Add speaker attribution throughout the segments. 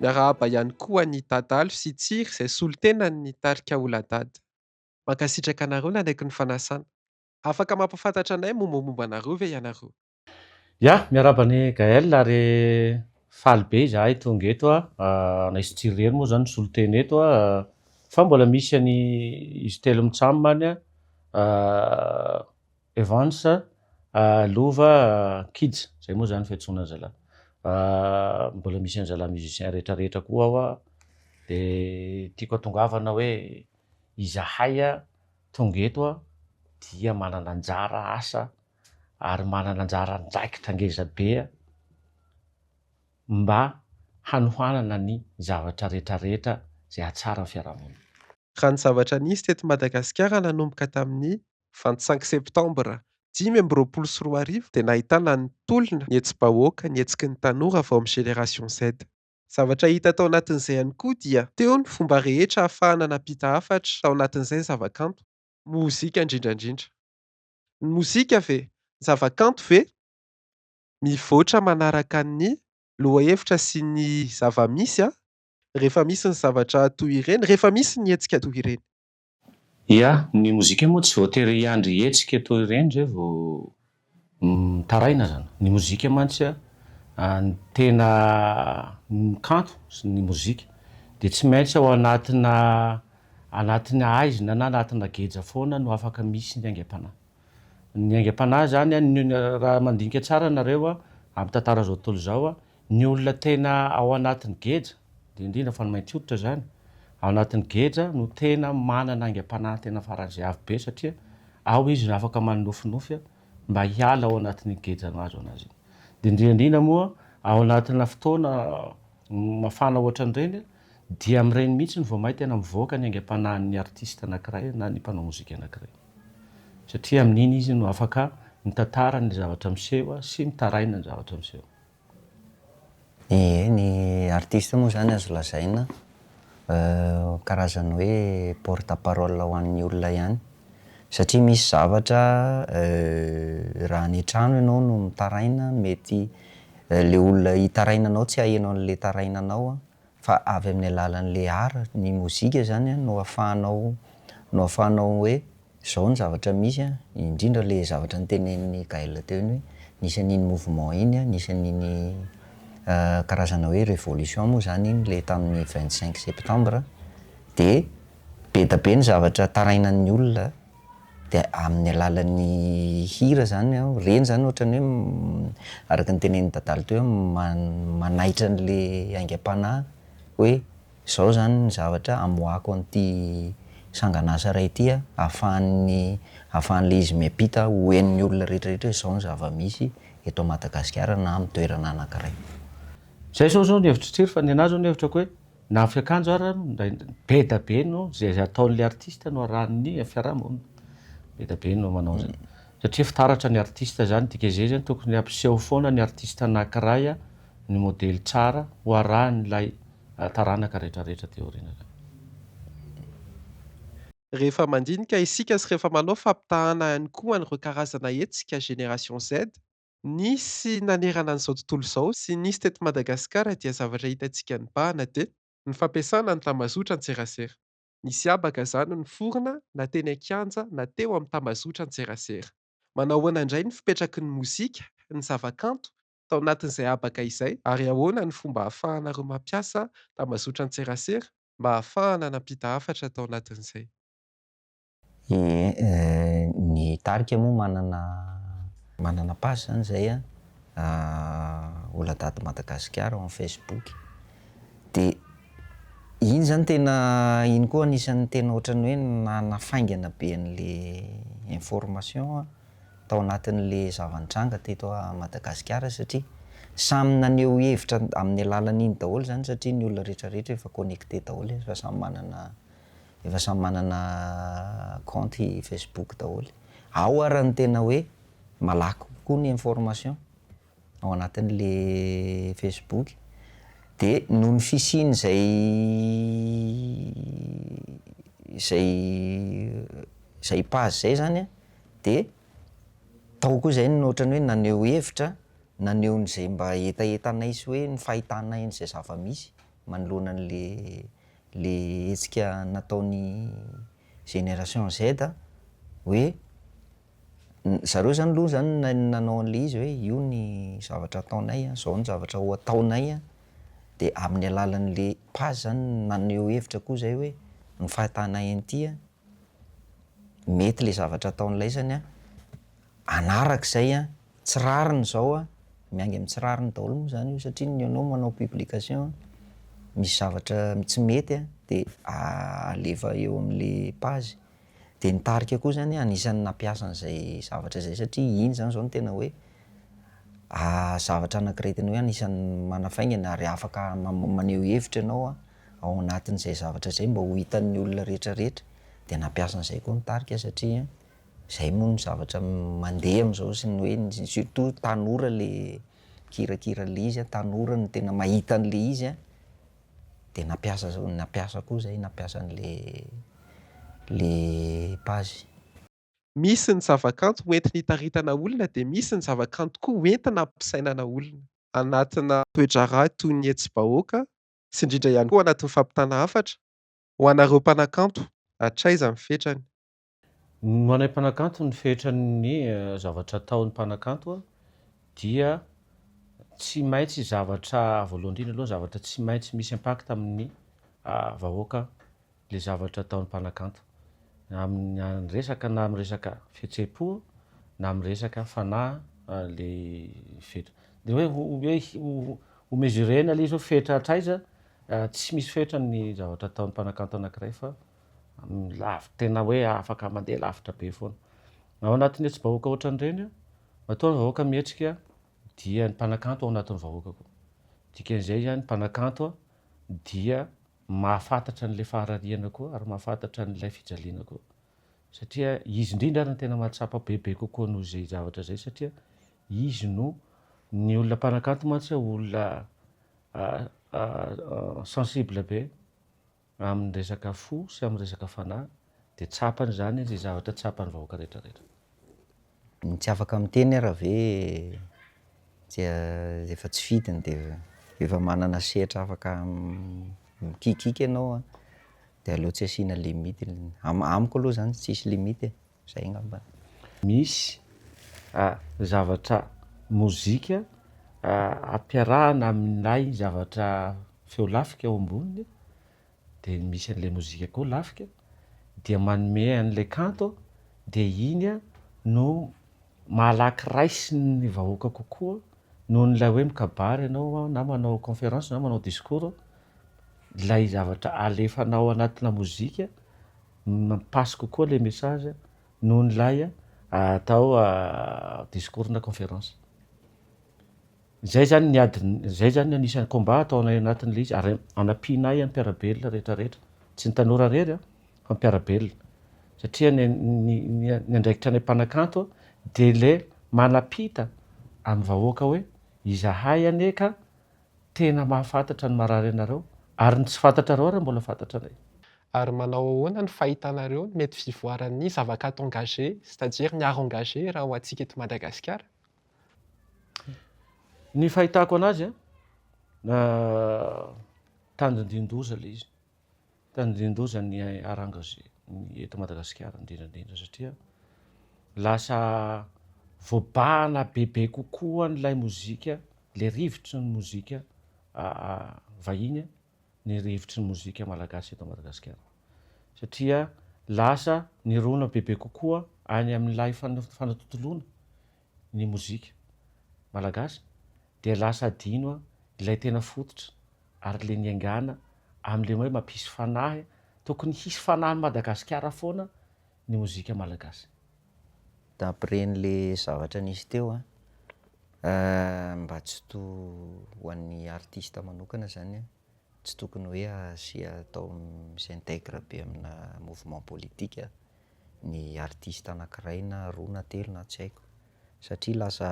Speaker 1: Miarahaba ihany koa an'i Dadalo sy Tsiry izay solontenan'ny ny tarika Oladad. Mankasitraka anareo nanaiky ny fanasana. Afaka mampafantatra anay mombamomba anareo ve ianareo? Ya,
Speaker 2: miarahaba an'i Gaël ary faly be izahay tonga eto a, anay sy Tsiry irery moa izany no solontena eto a, fa mbola misy an'i Izy telo mitsam any a, Evans lova kids zay moa zany fiantsoana zalah mbola misy an zalah musicien rehetra rehetra koa ao a de tiako atongavana hoe izahay a tonga eto a dia manana anjara asa ary manana anjara andraikitra ngeza be a mba hanohanana ny zavatra rehetra rehetra zay hahatsara ny fiarahamonina. Raha ny zavatra
Speaker 1: nisy teto Madagasikara nanomboka tamin'ny vingt cinq septembre dimy amby roapolo sy roa arivo dia nahitana ny tolona, ny hetsi-bahoaka, ny hetsiky ny tanora avy ao amin'ny Génération Z. Zavatra hita tao anatin'izay ihany koa dia teo ny fomba rehetra ahafahana nampita hafatra tao anatin'izay ny zavakanto. Mozika indrindra indrindra. Ny mozika ve? Ny zavakanto ve? Mivoatra manaraka ny lohahevitra sy ny zava-misy rehefa misy ny zavatra toy ireny, rehefa misy ny hetsika toy ireny. Ia,
Speaker 2: ny mozika moa tsy voatery hiandry hetsika toa ireny zay vao mitaraina zany. Ny mozika mantsy a, ny tena ny kanto sy ny mozika dia tsy maintsy ao anatina anatin'ny haizina na anatina geja foana no afaka misy ny aingam-panahy. Ny aingam-panahy zany a, raha mandinika tsara nareo a, amin'ny tantara zao tontolo zao a, Ny olona tena ao anatin'ny geja, dia indrindra fa ny mainty hoditra izany, ao anatin'ny geja no tena manana aingam-panahy tena faran'izay avo be satria ao izy no afaka manonofinofy mba hiala ao anatin'iny geja mahazo azy iny. Dia indrindra indrindra moa ao anatina fotoana mafana ohatran'ireny dia amin'ireny mihitsy no vao may tena mivoaka ny aingam-panahin'ny artista anankiray na ny mpanao mozika anankiray. Satria amin'iny izy no afaka mitantara ny zavatra miseho sy mitaraina ny zavatra miseho. Ie,
Speaker 3: ny artiste moa izany azo lazaina karazana hoe porte parole ho an'ny olona ihany. Satria misy zavatra raha any an-trano ianao no mitaraina mety ilay olona hitaraina anao tsy haheno an'ilay taraina anao an, fa avy amin'ny alalan'le art ny mozika zany an no afahanao no afahanao hoe zao ny zavatra misy an, indrindra le zavatra notenenin'i Gaël teo iny hoe nisy an'iny mouvement iny an, nisy an'iny karazana hoe révolution moa zany iny le tamin'ny vingt cinq septembre de be da be ny zavatra tarainan'ny olona, dia amin'ny alalan'ny hira izany an, ireny izany ohatran'ny hoe araka ny tenenin'i Dadalo teo hoe manaitra an'ilay aingam-panahy hoe izao izany ny zavatra amoahako an'ity sangan'asa iray ity an, ahafahan'ny ahafahan'ilay izy miampita ho henon'ny olona rehetrarehetra hoe izao ny zava-misy eto Madagasikara na amin'ny toerana anankiray. Izay izao
Speaker 2: izao ny hevitr'i Tsiry fa ny anà izao ny hevitrako hoe. Na fiakanjo ara ndray beda be no ze ataon le artiste no arahan ny fiaraha monina beda be no manao zany satria fitaratra ny artiste zany dkz zany tokony ampiseho foana ny artiste anakiray a ny modely tsara ho arahan ilay taranaka rehetra rehetra aty aoriana zany.
Speaker 1: Rehefa mandinika isika sy rehefa manao fampitahana ihany koa an'ireo karazana hetsika Génération Z Nisy nanerana an'izao tontolo izao sy nisy teto Madagasikara dia zavatra hitantsika nibahana dia. Ny fampiasana ny tambazotra an-tserasera. Nisy habaka izany niforona na teny an-kianja na teo amin'ny tambazotra an-tserasera. Manao ahoana indray ny fipetraky ny mozika, ny zavakanto, tao anatin'izay habaka izay? Ary ahoana ny fomba ahafahanareo mampiasa tambazotra an-tserasera mba hahafahana nampita hafatra tao anatin'izay. Ee,
Speaker 3: ny tarika moa manana manana page zany zay an, Oladad Madagasikara ao amin'ny Facebook, dia iny zany tena iny koa anisan'ny tena ohatran'ny hoe nanafaingana be an'le information tao anatin'le zava-nitranga teto Madagasikara satria samy naneho hevitra amin'ny alalan'iny daholo zany satria ny olona rehetra rehetra efa connecté daholo fa samy manana efa samy manana kaonty Facebook daholo. Ao ary ny tena hoe malaky kokoa ny information ao anatin'le Facebook de noho ny fisian'izay izay izay page izay zany an de tao koa izay no ohatran'ny hoe naneho hevitra naneho an'izay mba hetahetanay sy hoe ny fahitanay an'izay zava-misy. manoloana an'ilay ilay hetsika nataon'ny génération Z hoe zareo izany aloha izany na- nanao an'ilay izy hoe io ny zavatra ataonay an, izao ny zavatra ho ataonay an, dia amin'ny alalan'ilay page izany no naneho hevitra koa izay hoe ny fahitanay an'ity an, Mety ilay zavatra ataon'ilay izy any hanaraka izay an, tsy rariny izao an, miainga amin'ny tsy rariny daholo moa izany io satria ny anao manao publication misy zavatra tsy mety an, dia alefa eo amin'ilay page, dia ny tarika koa izany an anisan'ny nampiasa an'izay zavatra izay satria iny izany izao no tena hoe zavatra anankiray tena hoe anisan'ny manafaingana ary afaka maneho hevitra ianao an. ao anatin'izay zavatra izay mba ho hitan'ny olona rehetra rehetra dia nampiasa an'izay koa ny tarika satria izay moa no zavatra mandeha amin'izao sy ny hoe surtout tanora le mikirakira an'le izy an, tanora no tena mahita an'le izy an, dia nampiasa za- nampiasa koa izay nampiasa an'le le page. Misy
Speaker 1: ny zavakanto hoentina hitaritana olona dia misy ny zavakanto koa hoentina hampisainana olona anatina toe-draharaha toy ny hetsi-bahoaka sy indrindra ihany koa anatin'ny fampitana hafatra, ho anareo mpanakanto, hatraiza ny fetrany? Ho
Speaker 2: anay mpanakanto ny fetran'ny zavatra ataon'ny mpanakanto dia tsy maintsy zavatra voalohany indrindra aloha zavatra tsy maintsy misy impact amin'ny vahoaka ilay zavatra ataon'ny mpanakanto amin'ny resaka na amin'ny resaka fihetseham-po na amin'ny resaka fanahy ilay fetra. Dia hoe ho hoe ho mesurer-na ilay izy hoe fetra hatraiza, tsy misy fetra ny zavatra ataon'ny mpanakanto anankiray fa lavitra tena hoe afaka mandeha lavitra be foana. Ao anatin'ny hetsi-bahoaka ohatran'ireny, matoa ny vahoaka mihetsika dia ny mpanakanto ao anatin'ny vahoaka koa. Dikan'izay izany ny mpanakanto dia mahafantatra an'ilay faharariana koa ary mahafantatra an'ilay fijaliana koa satria izy indrindra ary no tena mahatsapa bebe kokoa noho izay zavatra izay satria izy no ny olona mpanakanto mantsy olona sensible be amin'ny resaka fo sy amin'ny resaka fanahy dia tsapany izany izay zavatra tsapan'ny vahoaka rehetra rehetra.
Speaker 3: Ny tsy afaka miteny ara ve dia efa tsy fidiny dia efa manana sehatra afaka mikiakiaka ianao an, dia aleo tsy asiana limite, amiko aloha izany tsisy limite e, izay angamba. Misy
Speaker 2: zavatra mozika ampiarahana amin'ilay zavatra feo lafika eo amboniny dia ny misy an'ilay mozika koa lafika dia manome an'ilay kanto dia iny no malaky raisin'ny vahoaka kokoa noho ny ilay hoe mikabary ianao na manao conférence na manao discours ilay zavatra alefanao anatina mozika no passe kokoa ilay message noho ny ilay atao discours na conférence Izay izany ny ady, izay izany ny anisan'ny combat ataonay anatin'ilay izy ary anampiana ahy mpiara-belona rehetra rehetra, tsy ny tanora irery fa ny mpiara-belona satria ny ny andraikitra anay mpanakanto dia ilay manapita amin'ny vahoaka hoe izahay anie ka tena mahafantatra ny marary anareo ary ny tsy fantatrareo ary mbola fantatranay. Ary manao
Speaker 1: ahoana ny fahitanareo ny mety fivoaran'ny zava-kanto engagé, c'est-à-dire ny art engagé raha ho antsika eto Madagasikara?
Speaker 2: Ny fahitako anazy a, tandindian-doza ilay izy, tandindian-doza ny harangways eto Madagasikara indrindra indrindra satria lasa voabahana bebe kokoa an'ilay mozika, ilay rivotry ny mozika vahiny a. ny rivotry ny mozika malagasy eto Madagasikara satria lasa nirona bebe kokoa any amin'ilay fanatontoloana ny mozika malagasy dia lasa adino ilay tena fototra ary le niaingàna amin'le hoe mampisy fanahy, tokony hisy fanahin'i Madagasikara foana ny mozika malagasy.
Speaker 3: D'après an'le zavatra nisy teo an, mba tsy to ho an'ny artiste manokana zany an, tsy tokony hoe asia atao mi-s'integre be amina mouvement politique ny artiste anakiray na roa na telo na tsy haiko, satria lasa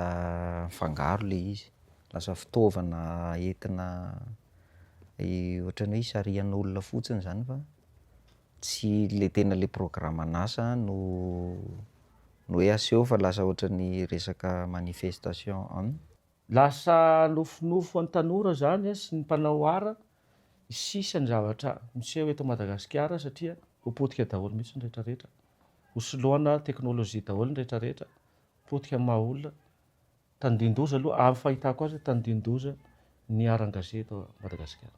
Speaker 3: mifangaro le izy, lasa fitaovana entina ohatran'ny hoe isarihan'olona fotsiny zany fa. Tsy le tena le programan'asa no no hoe aseho fa lasa ohatran'ny resaka manifestation an! Lasa
Speaker 2: nofinofy an'ny tanora zany sy ny mpanao art ny sisa ny zavatra miseho eto Madagasikara satria ho potika daholo mihitsy ny rehetra rehetra, ho soloana technologie daholo ny rehetra rehetra, potika amin'ny maha olona, tandindoza aloha amin'ny fahitako azy tandindoza ny art an-gazety eto Madagasikara.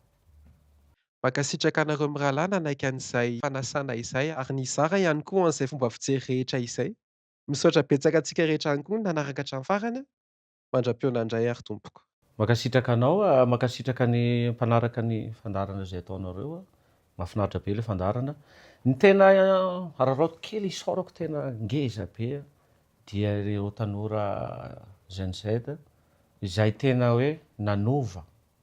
Speaker 1: Mankasitraka anareo mirahalahy nanaiky an'izay fanasana izay ary nizara ihany koa an'izay fomba fijery rehetra izay. Misaotra betsaka antsika rehetra ihany koa nanaraka hatramin'ny farany. Mandra-pihaonana indray ary tompoko. Mankasitraka anao,
Speaker 2: mankasitraka ny mpanaraka ny fandaharana izay ataonareo. Mahafinaritra be ilay fandaharana. Ny tena araraotiko kely, isaorako tena ngeza be dia ireo tanora Gen-Z izay tena hoe nanova